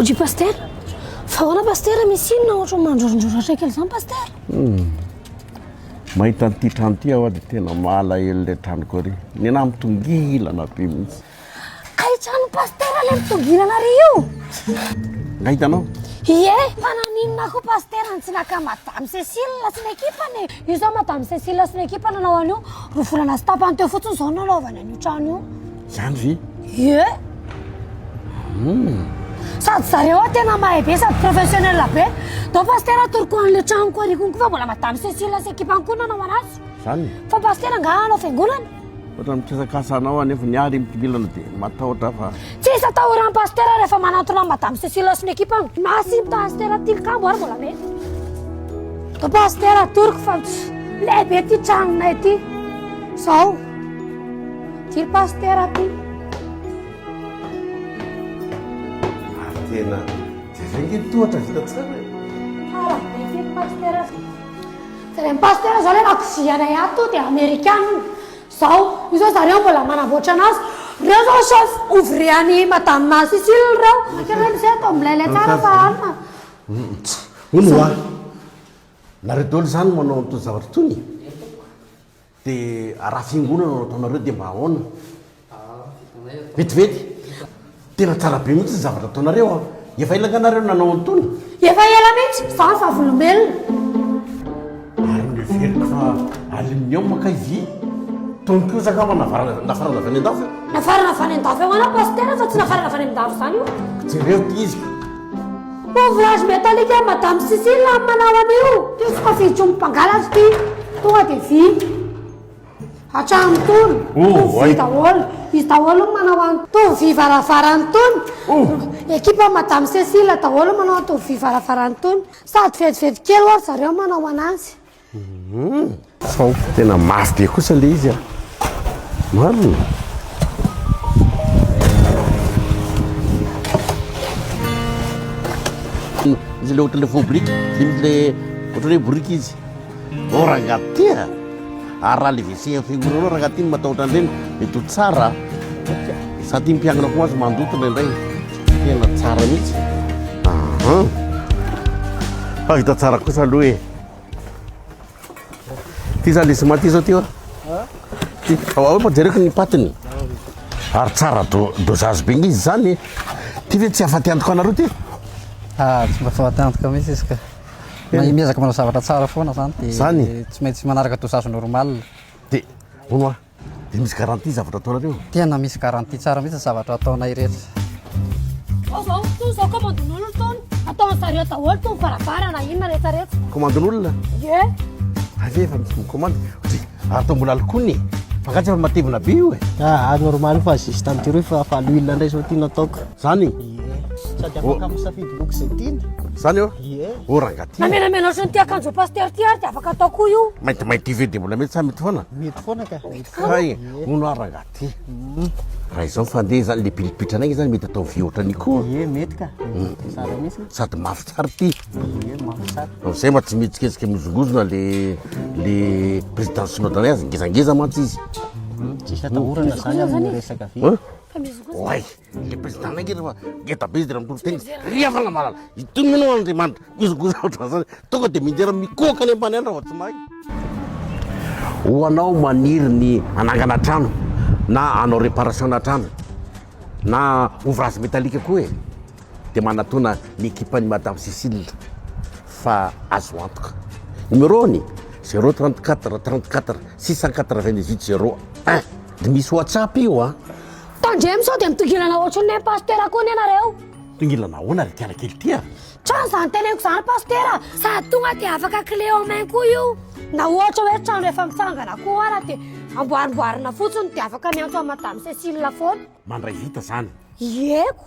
Oji Pasteur, fa ahoana Pasteur misy inona ohatra mandrorondroro atraika izany Pasteur? Hmm. Mahita an'ity trano ity aho dia tena malahelo ilay tranoko ary. Ny namitongilana be mihitsy. Kay trano pasitera le mitoginana re io Nga hitanao? Ie, fa naninona koa pasitera no tsy naka madame Cécile sy ny ekipany e? Io zao madame Cécile sy ny ekipany nanao an'io roa volana sy tapany teo fotsiny zao no nanaovany an'io trano io. Zany ve? Ie. Hmm. Sady zareo a tena mahay be sady professionnel be dao pastera atoroko an'le tranoko arikony koa fa mbola madame cécile sy ekipany koa nanao anazy zany fa pastera nga hanao fiangonana Ohatran'ny mikasakasa anao anefa ny ahy ry Mpibilana dia matahotra aho fa. Tsy hisy atahoran'i Pasitera rehefa manantona an'i Madame Cécile sy ny ekipany. Merci Pasitera Tilikambo ary mbola mety. Toa Pasitera atoroko fa lehibe ity tranonay ity. Zao. Ity ry Pasitera ity. Ary tena dia vengy ny tohatra vita tsara. Hala, dia ity ry Pasitera. Jereo ny pasteur zao le lakozia anay ato to de amerikana io zao io zao zareo mbola manamboatra anazy reo zao chef ouvrier any madame ma Cicile reo akeo reo misy ato milay lay tsara fa alina Hono hoa! Nareo daholo zany manao an'itony zavatra itony e! Dia raha fiangonana no ataonareo dia mba ahoana? Vetivety? Tena tsara be mihitsy ny zavatra ataonareo an! Efa ela angaha nareo nanao an'itony? Efa ela mihitsy fa vavolombelona! Ary noheveriko fa aluminium kay vy? Tony kosa angaha mba nafarana nafarana avy any an-dafy io? Nafarana avy any an-dafy ahoana Pasitera fa tsy nafarana avy any amin-dafy izany io! Jereo ity izy! Ouvrage metallique an madame Sissi la manao an'io. Teo tsy fa fijo mpangalatra ty. Tonga de vy. Hatramin'ny tony. Oh, vy daholo. Izy daholo manao an'to tovy vy varavarany tony. Oh. Ekipa madame Cécile daholo manao an'to tovy vy varavarany tony. Sady vetivety kely oa ry zareo manao an'azy. Sao tena mafy be kosa le izy a. Marina. Izy le ohatry le faux brique, le misy le ohatry hoe brique izy. Oh rangaha ty a. Ary raha le WC amin'ny fiangonanao rangaha ty no matahotra an'ireny, mety ho tsara. Za ty mpiangona koa azo mandoto indraindray. Tena tsara mihitsy. Fa vita tsara kosa aloha e. Ty zany le sima ty zao ty oa. Ty ao ao pajereko ny patiny. Ary tsara do dosage be ngizy zany. Ty ve tsy afaty antoka anareo ty? Ah, tsy mba fahaty antoka mihitsy izy ka. Na miezaka manao zavatra tsara foana zany de Zany? tsy maintsy manaraka dosage normal. Ty. Ono oa. Dia misy garantie zavatra ataonareo? Tena misy garantie tsara mihitsy ny zavatra ataonay rehetra. Zao zao to zao komandin'olona tony ataon'ny zareo daholo tony varavarana inona rehetra rehetra. Komandin'olona? Ye. Avy efa misy mikomandy. Dia ary to mbola alokony e. Fa angaha tsy efa matevina be io e. Ah normal fa juste an'ity rohy fa fa l'huile indray zao ty nataoko. Zany? Ie. Sady afaka misafidy loko izay tiana. Zany eo? Ie. Oh ranga ty. Na menamena ohatry ny ty akanjo pasteur ty ary dia afaka atao koa io. Maintimainty io ve dia mbola mety sa mety foana? Mety foana ka. Mety foana. Hay, hono ary ranga ty. Mm. Raha izao fandeha izany le pilipitra anay izany mety atao vy ohatran'io koa. Ie, mety ka. Mm. Tsara mihitsy. Sady mafy tsara ty. Ie, mafy tsara. Amin'izay mba tsy mihetsiketsika mizongozona le le président synode anay azy ngezangeza mantsy izy. Mm. Tsisy atahorana zany amin'ny resaka vy. Hein? Oay. Le président anay nge refa ngeda be izy de mitondra tena izy ry havana malala itony mino aho andriamanitra gozogozo ohatran'zany tonga de midera mikohaka any ambany any raha vao tsy mahay ho anao maniry ny anangana trano na anao réparation na trano na ouvrage métallique koa e de manatona ny équipe an'i madame Cécile fa azo antoka numéro ny zéro trente quatre trente quatre six cent quatre vingt dix huit zéro un de misy whatsapp io a Tandremo sao dia mitongilana ohatry ny nen'i Pasitera koa anie nareo. Mitongilana ahoana ry kiana kely ty a? Trano izany teneniko izany Pasitera a! Sady tonga dia afaka clé en main koa io. Na ohatra hoe trano efa mitsangana koa ara dia amboarimboarina fotsiny dia afaka miantso an'i Madame Cécile foana. Mandray vita izany. Ieko.